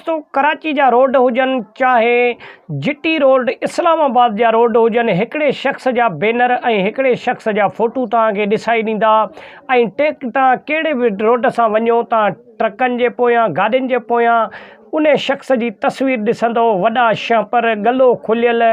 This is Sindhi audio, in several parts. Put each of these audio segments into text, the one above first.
تو ڪراچي جا روڊ هجن چاهي جي ٽي روڊ اسلام آباد جا روڊ هجن هڪڙي شخص جا بينر ۽ هڪڙي شخص جا فوٽو توهان کي ڏسائي ڏيندا ۽ ٽيڪ توهان ڪهڙي به روڊ سان وڃو توهان ٽرڪن جي پويان گاڏين جي پويان انهي شخص جي تصوير ڏسندؤ وڏا شهپر ڳلو کليل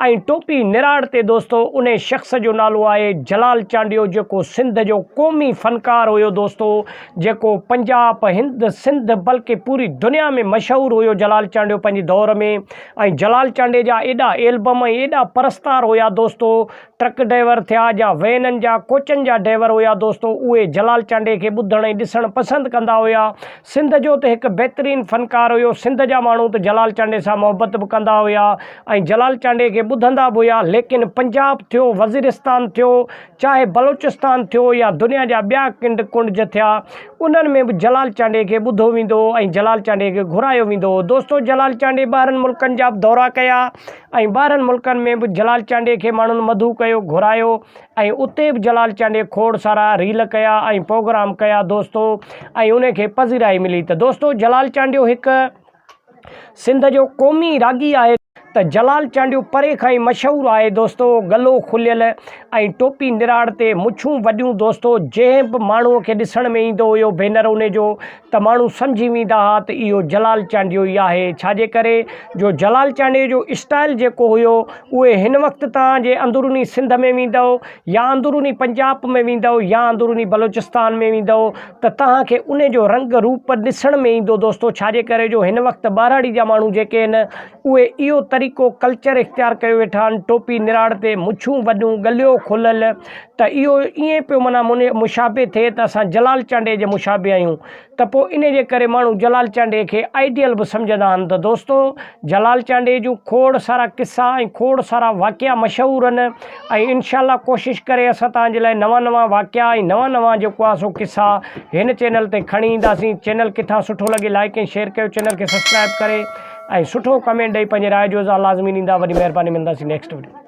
۽ ٽوپي نراڙ تي دوستو انهي شخص جو نالو آهي جلال چانڊيو جيڪو سنڌ جو قومي فنڪار هيو دوستو جيڪو پنجاب، هند، سنڌ بلڪه پوري دنيا ۾ مشهور هيو جلال چانڊيو پنهنجي دور ۾ ۽ جلال چانڊي جا ايڏا ايلبم ۽ ايڏا پرستار هيا دوستو ٽرڪ ڊيور ٿيا يا وينن جا ڪوچن جا ڊيور هيا دوستو اهي جلال چانڊي کي ٻڌڻ ۽ ڏسڻ پسند ڪندا هيا سنڌ جو ته هڪ بهترين فنڪار هيو سنڌ جا ماڻهو ته جلال چانڊي سان محبت به ڪندا هيا ۽ جلال چانڊي کي ٻڌندا به هيا ليڪن پنجاب ٿيو وزيرستان ٿيو چاهي بلوچستان ٿيو يا دنيا جا ٻيا ڪنڊ ڪنڊج ٿيا، انهن ۾ به جلال چانڊيي کي ٻڌو ويندو هو ۽ جلال چانڊيي کي گهرايو ويندو هو. دوستو جلال چانڊيي ٻاهرن ملڪن جا به دورا ڪيا ۽ ٻاهرن ملڪن ۾ به جلال چانڊيي کي ماڻهن مدعو ڪيو، گهرايو ۽ اتي به جلال چانڊيي کوڙ سارا ريل ڪيا ۽ پروگرام ڪيا دوستو ۽ انهي کي پذيرائي ملي ته دوستو جلال چانڊيو هڪ. سنڌ جو قومي راڳي آهي ته جلال چانڊيو پري کان ئي مشهور آهي دوستو گلو کليل ۽ ٽوپي نراڙ تي مڇون وڏيون دوستو جنهن به ماڻهو کي ڏسڻ ۾ ايندو هيو ڀينر انهي جو ته ماڻهو سمجهي ويندا ها ته اهو جلال چانڊيو ئي آهي ڇاجي ڪري جو جلال چانڊيو جو اسٽائل جيڪو هيو اهي هن وقت توهان جي اندروني سنڌ ۾ ويندو يا اندروني پنجاب ۾ ويندؤ يا اندروني بلوچستان ۾ ويندؤ ته توهان کي ان جو رنگ روپ ڏسڻ ۾ ايندو دوستو ڇاجي ڪري جو هن وقت ٻهراڙي جا ماڻهو جيڪي آهن اهي اهو طريقو ڪلچر اختيار ڪيو ويٺا آهن ٽوپي نراڙ تي مڇون وڏيون ڳليو کليل ته اهو ائين پيو منا مشابه ٿئي ته اسان جلال چانڊيي جي مشابه آهيون ته پوء انهيء جي ڪري ماڻهو جلال چانڊيي کي آئيڊيل به سمجهندا آهن ته دوستو جلال چانڊيي جون کوڙ سارا قصا ۽ کوڙ سارا واقعا مشهور آهن ۽ انشاء الله ڪوشش ڪري اسان توهان جي لاء نوان نوان واقعا ۽ نوان نوان جيڪو آهي سو قصا هن چينل تي کڻي اينداسين چينل ڪٿان سٺو لڳي لائيڪ ۽ شيئر ڪيو چينل کي سبسڪرائيب ڪري ۽ سٺو ڪمينٽ ڏئي پنهنجي راء جو اظهار لازمي ڏيندا وڏي مهرباني ملنداسين نيڪسٽ وڊيو